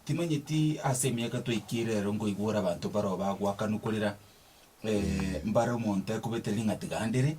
Timanyeti ase emiaka twaikire ero nkoigwa ore abanto mbaroo bagoakanwa korera mbare omonto ekobete ring'ati gandere,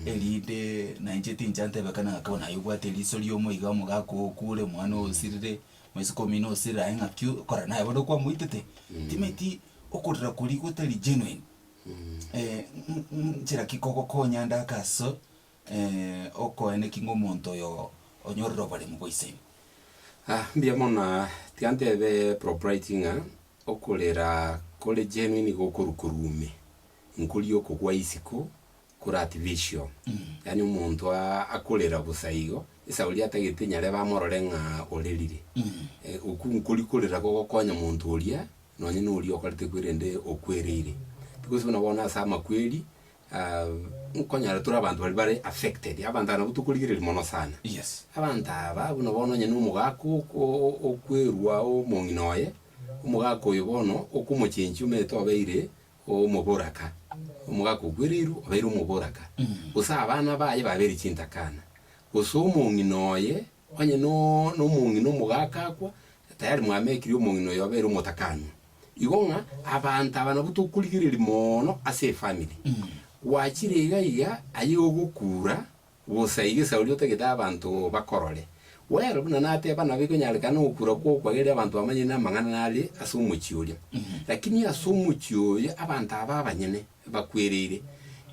erinde nainche tincha ntebe ekero nagaka bono aye obwate eriso riomo iga omogaka oo okure, omwana oo osirire, omosike omino osirire aye ng'aki okora naye bono okwamoitete. Timanyeti okorera koria gotari genuine nchera ki kogokonya ndaka aso. Okoeneki ng'omonto oyo onyorire oboremu bwa ise ime. Ah, mbuya mono aa. Tiga ntebe proprity ng'a okorera kore genuine nigo okorwa korwa ime, nkoria okogwa isiko kore at vision, yaani omonto aa akorera bosa igo, esaha oria atagete nyare bamorore ng'a orerire. Eh, okwo nkoria korera gogokonya monto oria, nonye noria okorete korende okwereire. Because buna bono ase amakweri. Nkonyora tore abanto baria bare affected, abanto aba nabwo tokorigereria mono sana. Yes. Abanto aba buna bono onye nomogaaka oko- okwerwa omong'ina oye, omogaaka oyo bono okomochenchia omanyete obeire omoboraka, omogaaka okwereirwe obeire omoboraka. Gose abana baye babeire chintakana, gose omong'ina oye. Onye nomong'ina omogaka akwa, tayari mwamekirie omong'ina oyo obere omotakanwa. Igo ng'a abanto aba nabwo tokorigereria mono ase efamiri. Gwachire iga iga, aye ogokura, bosa iga esauri otagete abanto bakorore. Well, buna nateba, nabo ikonyarekana ogokura kw'okwa gere abanto bamanyire namang'ana nare ase omochie oria. Lakini ase omochie oyo abanto aba abanyene. ebakwereire.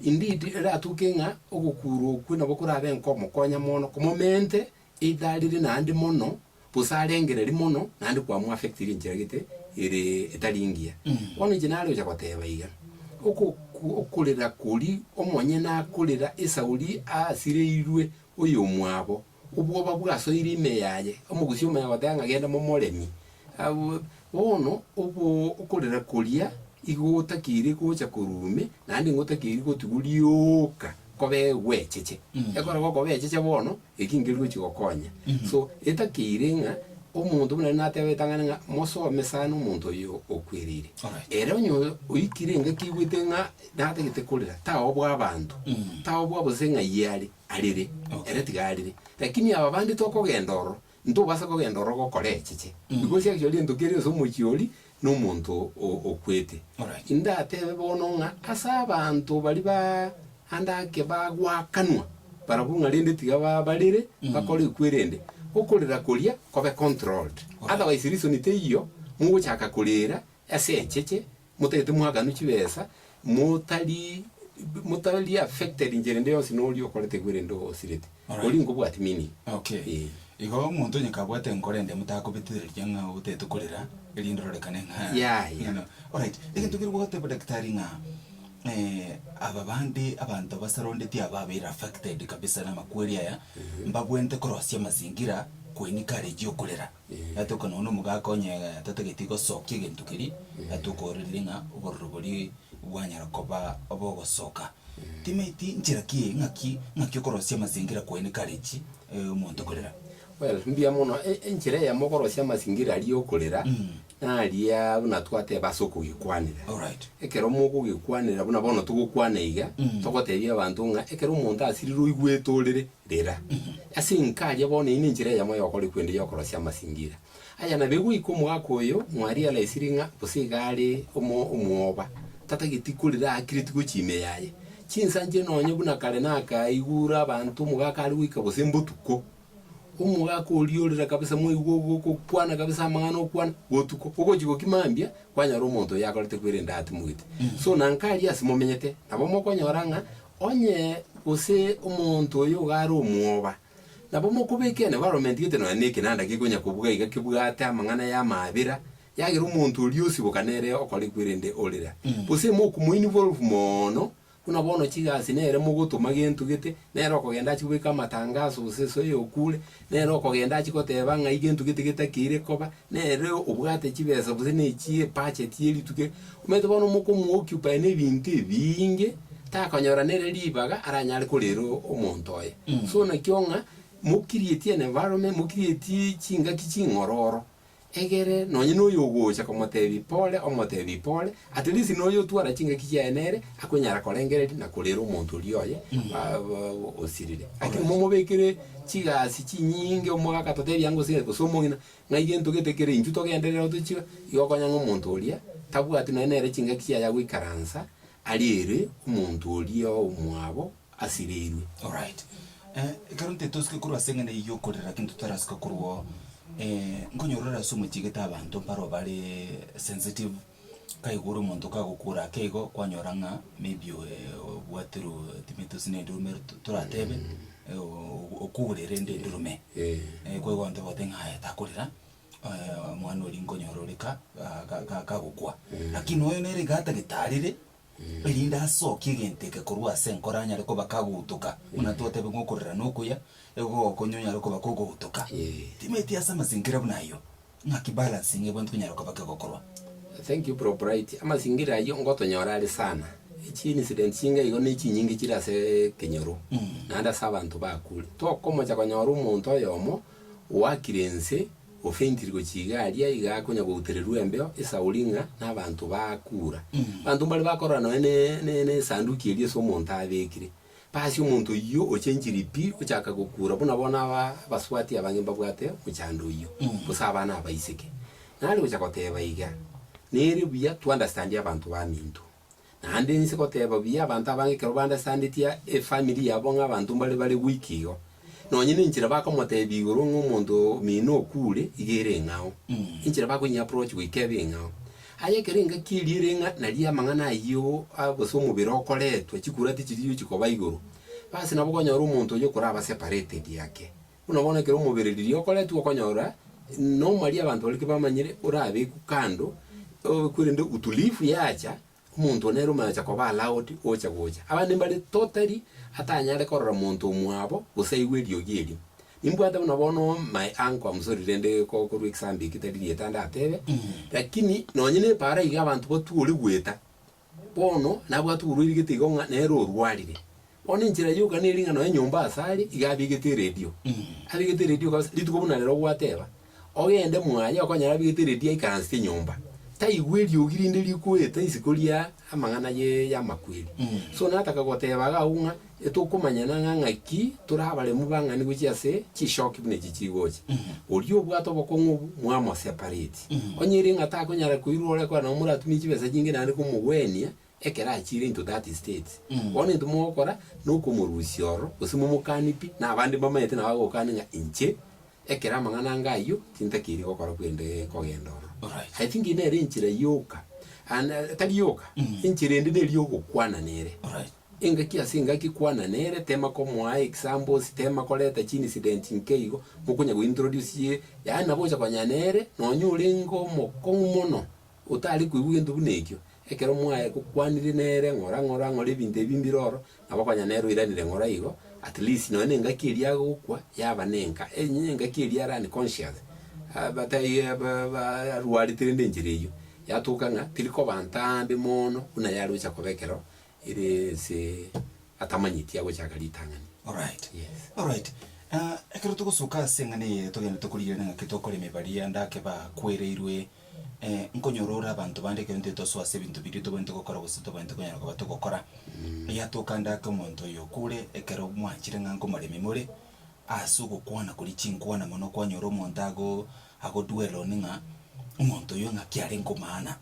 Indeed, eratuke ng'a ogokuurwa okwo nabo korabe nkomokonya mono, komomente either arire naende mono, gose arengererie mono, naende kwamu affectiri enchera gete ere etari engiya. Bono inche nare gocha goteba iga, ogoku okorera kori omonyene akorera esauri asireirwe oyomwabo, Obwoba bwasoire ime yaye, omogusia omuya agoteba ng'a, Genda momoremi, bono obo okorera koria igo otakeiri gocha korwa ime, naende nigo otakeiri gotigwa rioka koba egwecheche. Ekero gokoba echeche bono, eki nkeri gochia gokonya. So, etakeire ng'a omonto buna nateba etang'ani ng'a mosome sana omonto oyo okwereire. Ere onye oikire engaki aigwete ng'a natagete korera, taoe obwabanto, taoe obwabose ng'ai are. Arere? Mh, ere tiga arere. Lakini aba bande tokogenda ororo, ntobasa kogenda ororo gokora echiche. Nigo chiagachorire entoki eria yonsi omochie oria na omonto o, okwete. Orache. Indatebe bono ng'a ase abanto baria ba ande ake bagwakanwa, barabwo ng'a rende tiga ba, barere, bakore ekwerende, okorera koria kobe controlled. Otherwise reason teiyo, mogochaka korera ase echeche, Motagete mwaganwa chibesa, motari motari affected inchera ende yonsi noria okorete igo erende osirete. Alright. Oria nkobwati meaning. Okay. Eh. Igo omonto onye kabwate enkoro ende motakobetitheriria ng'a otagete korera, erinde ororekane ng'a Yeah, yeah. ng'ina. Alright. Egento keria gogoteba daktari ng'a eh, aba bande abanto basarondeti aba abaire affected kabisa namakweri aya, mbabwenerete korosia amazingira kwenye courage yokorera. Iga tokona onde omogaka onye tatageti gosokia egento keria, iga tokoororeria ng'a obororo boria bwanyara koba obogosoka. Timaeti nchera ki eye, ng'aki ng'aki okorosia amasingira kwaye nekarechi omonto korera? Well, mbuya mono, e- enchera eyemo okorosia amasingira aria okorera, naria buna twateba ase okogekwanera. Alright. Ekero mokogekwanera buna bono togokwana iga, togotebia abanto ng'a ekero omonto asirirwe oigwete orere, Rera. Ase enka aria bono eye nenchera eyemo y'okorikwa ende y'okorosia amasingira aya. Na begoika omogaka oyo mwariaraisiri ng'a gose iga are omo omwoba, tatageti korera aakireti gochia ime yaye. Chinsanchire nonya buna kare nakaigure abanto omogaka are goika gose mbotuko. Omogaka oria orera kabisa mwaigwa ogokwana kabisa amang'ana okwana botuko. Ogochia gokima mambia kwanyora omonto oyo akorete kwerende atimogete. So na nka aria ase momenyete nabo mokonyora ng'a Onye gose omonto oyo iga are omwoba, nabo mokobe ekeene baromentigete nonya nekinanda gekonya kobuga iga kebwate amang'ana y'amaabera, yagera omonto oria osiboka nere okorekwa erende orera. Gose mokomoinigwa orofu mono, buna bono chigasi nere mogotoma gento gete, nere okogenda achie kobeka amatangaso gose esoe y'okure, nere okogenda achie goteba ng'ai gento gete getakeire koba, Nere obwate chibesa gose ne chi'ebudget ye rituko eri, omanyete bono mokomo occupy ne ebinto ebiinge, takonyora nere ribaga aranyare korera omonto oye. So nakio ng'a mo create an environment, mo create chingaki ching'ororo, egere nonye na oyo ogocha komotebia pole, omotebie pole, at least na oyo otwara chingaki chiaye nere, akonyara korengereria na korera omonto oria oye osirire. Lakini momobekere chigasi chinyinge, omogaka totebie angosere gose omong'ina, Ng'a egento gete kere intwe togenderera otochire, igo konya ng'a omonto oria tabwati nonya nere chingaki chiaya goikaransa aria ere omonto oria omwabo asireirwe. Alright. Eh, ekero ntetosike korwa ase eng'eneyi y'okorera lakini totarasika korwa oo, eh, nkonyorora ase omochie gete abanto mpare oo bare sensitive, Kaigure omonto kagokuura ake igo, kwanyora ng'a maybe obwaterwe timetosi na enduruma ero to- toratebe, ogo okuure rende enduruma eye. Kwa igo abanto bagotebi ng'a aye takorera, omwana oria nkonyora ore ka ga- ga- ga- gagokwa. Lakini oyo nere iga atagete arire. erinde asokie egento eke korwa ase enkoro anyare koba kagotoka, buna twatebire ng'a okorera na okuya, egooko onye onyare koba kogotoka. Timeti ase amasingira buna ayio, ng'aki balancing ebwenerete konyara koba kegokorwa? Thank you bro Bright, amasingira ayio ngotonyora are sana, echi incident chinga igo ne chinyinge chire asee ekenyoro, naende ase abanto bakure. Tokomocha konyora omonto oyomo oakire ense Ofentiri gochia igari aiga akonya goutererwa embeo esauri ng'a nabanto bakura. Abanto mbare bakorora nonya ne ne nesanduki eria ase omonto abekire. Basi omonto oyio ochenchiri pi ochaka gokura buna bono aba abaswati abange mbabwate mochando oyio. Gose abana abaiseke. Nare gocha goteba iga, nere buya to understand abanto baminto. Naende inse goteba buya abanto abange ekero bandesandetie efamiri yabo ng'a abanto mbare bare gwiki igo. Nonye nenchera bakomotebia igoro ng'a omonto omino okure, iga ere eng'ao. Enchera bakoinyi-approach goika ebe eng'ao. Aye ekero engaki eria ere ng'a naria amang'ana ayio a- gose omobere okoretwe, chikura tichiri chikoba igoro, basi nabo okonyora omonto oyio okoraba separated ake. Buna bono ekero omobereriri okoretwe okonyora normally abanto baria kebamanyire orabekwe kando, obekwe rende utulivu yacha, omonto one nere omache koba allowed gocha gocha. Abande mbare totally atanyare korora monto omwabo, gose aiwe eriogi erio. Nimbwate buna bono my uncle, I'm sorry rende ko- korwa example eketari rietanda atebe, lakini nonye nepara iga abanto batwori goeta, Bono nabwate oborwaire igete igo ng'a nere orwarire. Bono enchera yoka neri ng'a nonye nyomba aase are iga abegete eredio. Abegete eredio kabisa, rituko buna rero gwateba, ogende mwaye okonyora abegete eredio aikaransete nyomba. Taigwa eriogi rinde rikoeta isiko ria amang'ana ye y'amakweri. So nataka goteba iga abwo ng'a Etokomanyana ng'a ng'aki tore abaremu bang'ani gochia ase chisooki buna echi chiri gocha. Oria obwate obokong'u obo, mwamosepareti. Onye ere ng'a takonyara koirwa ore ekora nabo moratumie chibesa nyinge naende komogwenia ekero achiire into that state. Bono egento mogokora nokomorusia ororo gose momokanie pi na abande mbamanyete nabo bagokania ng'a inche ekero amang'ana ange ayio tintakeiri gokora korende nkogenda ororo. Alright. I think nere enchera yoka and tari yoka enchera ende neri yogokwana nere. Alright. Engaki ase engaki kwananere, tema komoa examples, tema koreta chiincident nkeigo, mokonya gointroduce ye, yaani nabo ogocha konya nere, nonya orenge omokong'u mono, otari koigwa gento buna ekio, ekero mwaye gokwanire nere ng'ora ng'ora ng'ora ebinto ebi mbire oro, nabo konya nere oiranire ng'ora igo, at least nonya na engaki eria agokwa, yaba na enka enye engaki eria are unconscious, aba tai ba ba arwarete rende enchera eyio, yatoka ng'a teri koba ntambe mono buna yare gocha koba ekero Ere ense atamanyeti agochaka ritang'ani. Alright. Yes. Alright. Ah, ekero togosoka ase eng'ana eye togende tokorigerere ng'aki tokoreme baria ndake ba kwereirwe, eh, nkonyora ore abanto bande ekero intwe tosoa ase ebinto biria tobwenerete gokora gose tobwenerete konyara koba togokora, yatoka ndake omonto oyo okure ekero mwanchire ng'a nkomoremi more, ase ogokwana koria chinkwana mono kwanyora omonto ago ago dwell on ng'a omonto oyo ng'aki arenge omaana.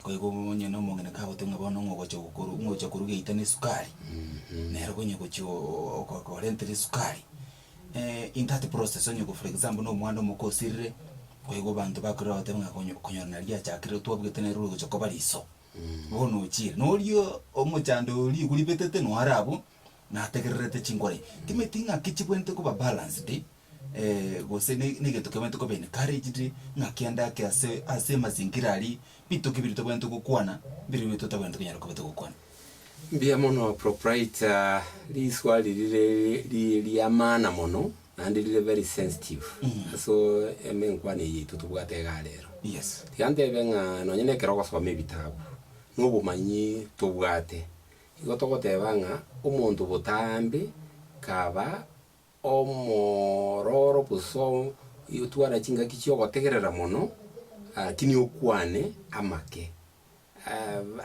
Goika obo onye na omong'ina kagoteba ng'a bono ng'ogocha gokoru ng'ocha koruga eita na esukari, nero konye gochia oo ogo korentire esukari, in that process onye for example na omwana omoka osirire, goika abanto bakorire bagoteba ng'a konyo konyora nari achakire twabugete nere orogocha koba riso, bono ochiire. Na oria omochando oyo rigwe ribetete noo are abwo, nategererete chinkoro enye. Timanyeti ng'aki chibwenerete koba balanced, gose ne- negeto kebaete koba encouraged, ng'a kende ake ase ase amazingira aria, bituko ebire tobaete gokwana, mbire bire totabwenerete konyara koba togokwana. Mbuya mono proprietor, riswali rire ri- ri- riamana mono, naende rire very sensitive asoo emenkwana eye yaito tobwate igaa rero. Yes. Tiga ntebe ng'a nonye nekero ogosoma ebitabu, na obomanyi tobwate, igo togoteba ng'a omonto botambe kaba. Omororo gosotwara chingaki chi'ogotegerera mono, lakini okwane amake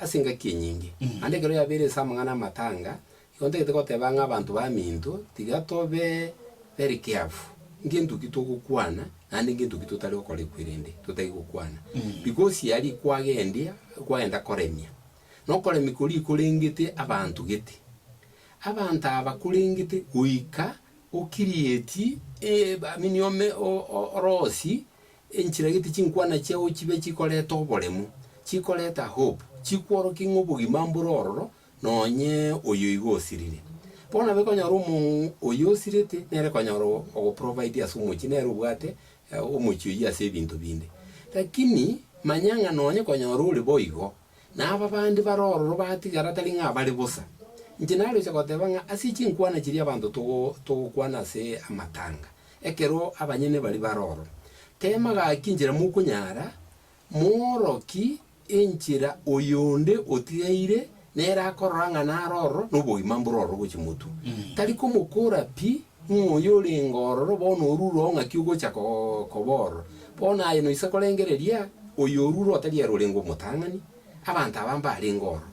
ase engaki enyinge. Naende ekero yabeire ase amang'ana amatanga, igo ntagete goteba ng'a abanto baminto tiga tobe very careful ngento ki togokwana naende ngento ki totari gokora ekwerende totari gokwana. Because ya riko kwagendia, kwagenda koremia, na okoremia koria korengete abanto gete. Abanto aba korengete goika okirieti eamini ome oroosi, enchirageti chinkwana chiao chibe chikoreta oboremu, chikoreta hope, chikworokie ng'a obogima mbore ororo, nonye oyo igo osirire. Bono nabo ekonyora omong'u oyio osirete nere konyora ogoprovidia ase omochie, nere obwate omochie oyio ase ebinto binde. Lakini manya ng'a nonye konyora ore boigo, na aba bande bare ororo batigara tari ng'a bare bosa. Inche naroche goteba ng'a ase chinkwana chiria abanto togokwana ase amatanga, ekero abanyene baria bare ororo, teema gaki inchera mokonyara, mooroki enchera oyonde otigaire nere akorora ng'a nare ororo na obogima mbore ororo gochia motwe. Tari komokora pi Ng'o oyo orenge ororo bono orure ong'aki ogocha koba ororo? Bono aye noise korengereria oyo orure otari ere orenge omotang'ani, abanto aba mbarenge ororo.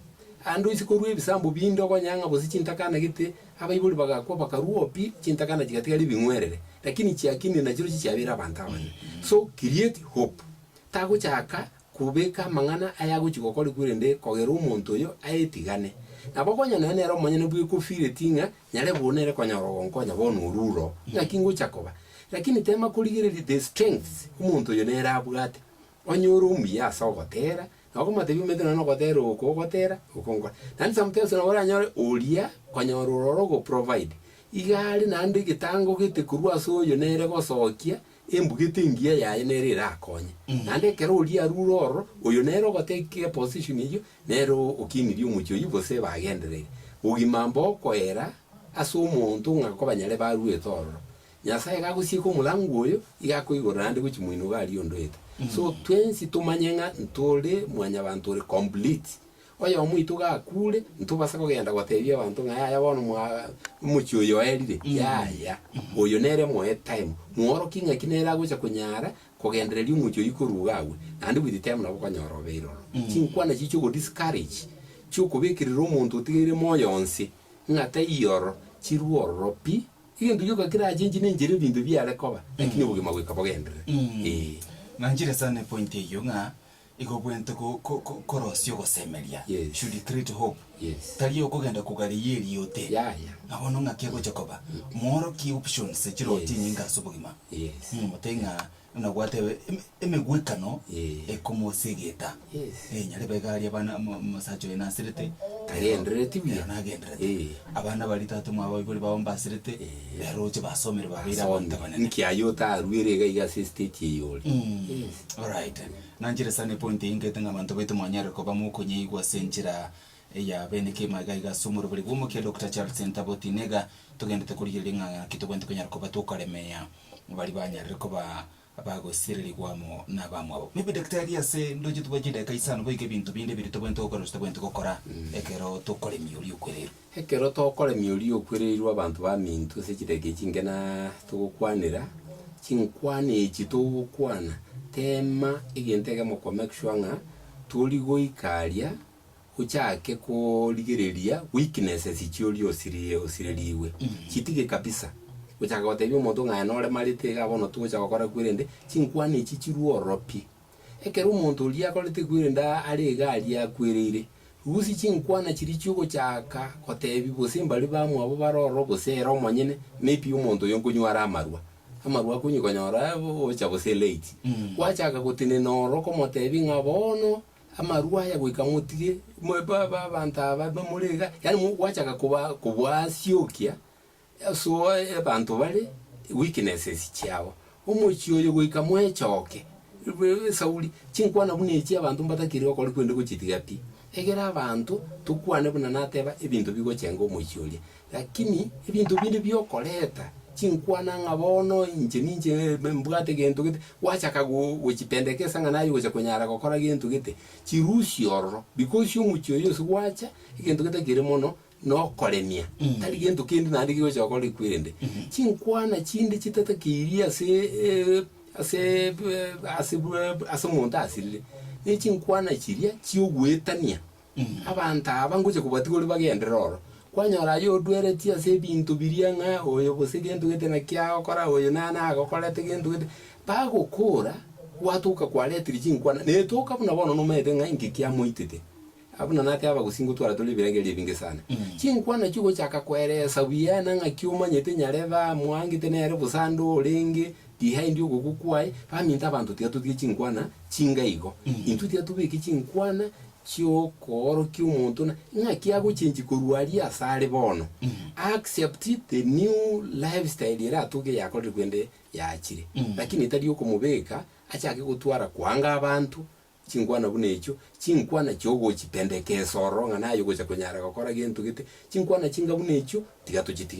Aande oise korua ebisambo binde okonyang'a bose chintakana gete, abaibori bagakwa bakarua opi, chintakana chigatigara ebing'werere, lakini chiakinire nachirochio chiabeire abanto abane. So create hope. Tagochaka kobeka amang'ana ayagochia gokorigwa erinde kogerwa omonto oyo ayetigane. Nabo konya naye nere omonyene bw'ekofiireti ng'a nyare bono ere konyora ogonkonya bono oruro, naki ngochia koba. Lakini teema korigereria the strengths omonto oyo nere abwate, onye ore omuya ase ogoteera, na okomoteebia omanyete nonya nogoteera oko ogoteera, oko nkore. Naende sometimes nabo oranyore oria konyora ororo ogoprovide, iga are naende egetango gete korwa ase oyo nere gosokia Embugete engiya yaye nero erakonye, naende ekero oria arure ororo, oyo nere ogoteka eposition eyio, nere okinirie omochie oyio gose ebagendereiri. Bogima mbokoera ase omonto ng'a kobanyare baruete ororo. Nyasaye gagosieka omorango oyo, iga akoigorera naende gochia moino iga aria ondoete. So twensi tomanye ng'a ntore mwanyabanto ore complete, Oyomo oito gakuure, ntobasa kogenda goteebia abanto ng'a yaya bono mwa- omochie oyo oerire, yaya, oyo nere moe time, mworokie ng'aki nere agocha konyara kogendereria omochie oyio koruga agwe, naende with time nabo okonyora obeire ororo. Chinkwana echi chi'ogo-discourage, chi'okobekerera omonto otigaire moyo onsi, ng'a taiyo ororo, chirue ororo pi. Egento gioka kerachengi nenchera ebinto biare koba, lakini obogima goika bogenderere. Ee. Nanchire sana epointi eyio ng'a Igo bwente ko, ko, ko, korosia ogosemeria Yes. should create hope. Yes. Tari okogenda kogareia eriote. Yaya. Nabono ng'aki agocha koba. Moorokie options echiroti Yes. enyinga ase obogima. Yes. Muna motebi ng'a buna gwateba em- emegwekano Yeah. ekomosegeta. Yes. Eh, nyarebe iga aria abana omo- omosacha oye nasirete. Agenderereti buya. Ero nagenderete. Eh. Abana baria tata omwabo abaibori bao mbasirete. Eh. Ero oche basomire babeire abanto Asomi. abanene. Nki aye otaruere iga iga ase estate eye ore? Yes. Alright. Nanchire sana epoint eyio ngete ng'a abanto baito mwanyare koba mokonyeigwa ase enchera eya bene kima iga iga ase omoroberi bwa omokia Doctor Charles Ntabo Otine iga togendete korigereria ng'a naki tobwenerete konyara koba tokaremea baria banyarire koba bagosirerigwa amo nabamwabo. Maybe daktari ase ndoche tobwate chidakika isano boigo ebinto binde biria tobwenerete gokora gose totabwenerete gokora ekero tokoremia oria okwereirwe. Ekero tokoremia oria okwereirwe abanto baminto ase chidaki echi inke na togokwanera chinkwana echi togokwana, teema egento egemo ko make sure ng'a tori goika aria ochake korigereria weaknesses chioria osiri osirerigwe. Chitige kabisa gochaka gotebia omonto ng'a aye noremarete iga bono togocha gokora kwirende chinkwana echi chirwe ororo pi. Ekero omonto oria akorete kwirenda are iga aria akwereire, rusia chinkwana chiria chi'ogochaaka goteebia bose mbaria bamwabo bare ororo gose ere omonyene, ne pi omonto oyo nkonywa are amarwa? Amarwa akonywa konyora ocha gose late. Gwachaaka gotenena ororo okomoteebia ng'a bono amarwa aya goika motige, mwe ba ba abanto aba bamore iga, yaani gwachaaka koba koboasiokia Yesu oe ebanto bare weaknesses chiabo omochie oyo goika mwechoke esauri chinkwana buna echi abanto mbatakiri okori kwende gochitiga pi egere abanto tokwane buna nateba ebinto bigochenga omochie oria lakini ebinto binde biokoreta chinkwana ng'a bono inche ninche mbwate gento gete gwachaka gochipendekesa ng'a naye ogocha konyara gokora gento gete chirusia ororo because omochie oyo ase gwacha egento getakere mono nokoremia, tari gento kende naende kigocha gokora ekwerende chinkwana chinde chitatakairi ase e- ase ebe- ase bwa ase omonto asirire, ne chinkwana chiria chiogoetania abanto aba ngocha kobatiga ore bagenderere oro. Kwanyora aye odweretie ase ebinto biria ng'a oyo gose gento gete naki agokora, oyo nere nagokorete gento gete, bagokora gwatoka kwareteire chinkwana, netoka buna bono nomanyete ng'a inki kiamoitete. Abwo na naki abagusii ngotwara tore ebiragerio ebinge sana. Chinkwana chi'ogochaka kweresa buya na ng'aki omanyete nyarebe amwangete nere bosa ande orenge, behind ogoku kwaye, baminto abanto tiatotiki chinkwana chinga igo. Intwe tiatobeki chinkwana chi'okoorokia omonto na ng'aki agochengi korwa aria ase are bono. Accept the new life style eratoge eyakorire korende yaachire. Lakini tari okomobeka achake gotwara koanga abanto Chinkwana buna echio, chinkwana chiogochitendeka esoro ng'a naye ogocha konyara gokora gento gete, chinkwana chinga buna echio, tiga tochitige.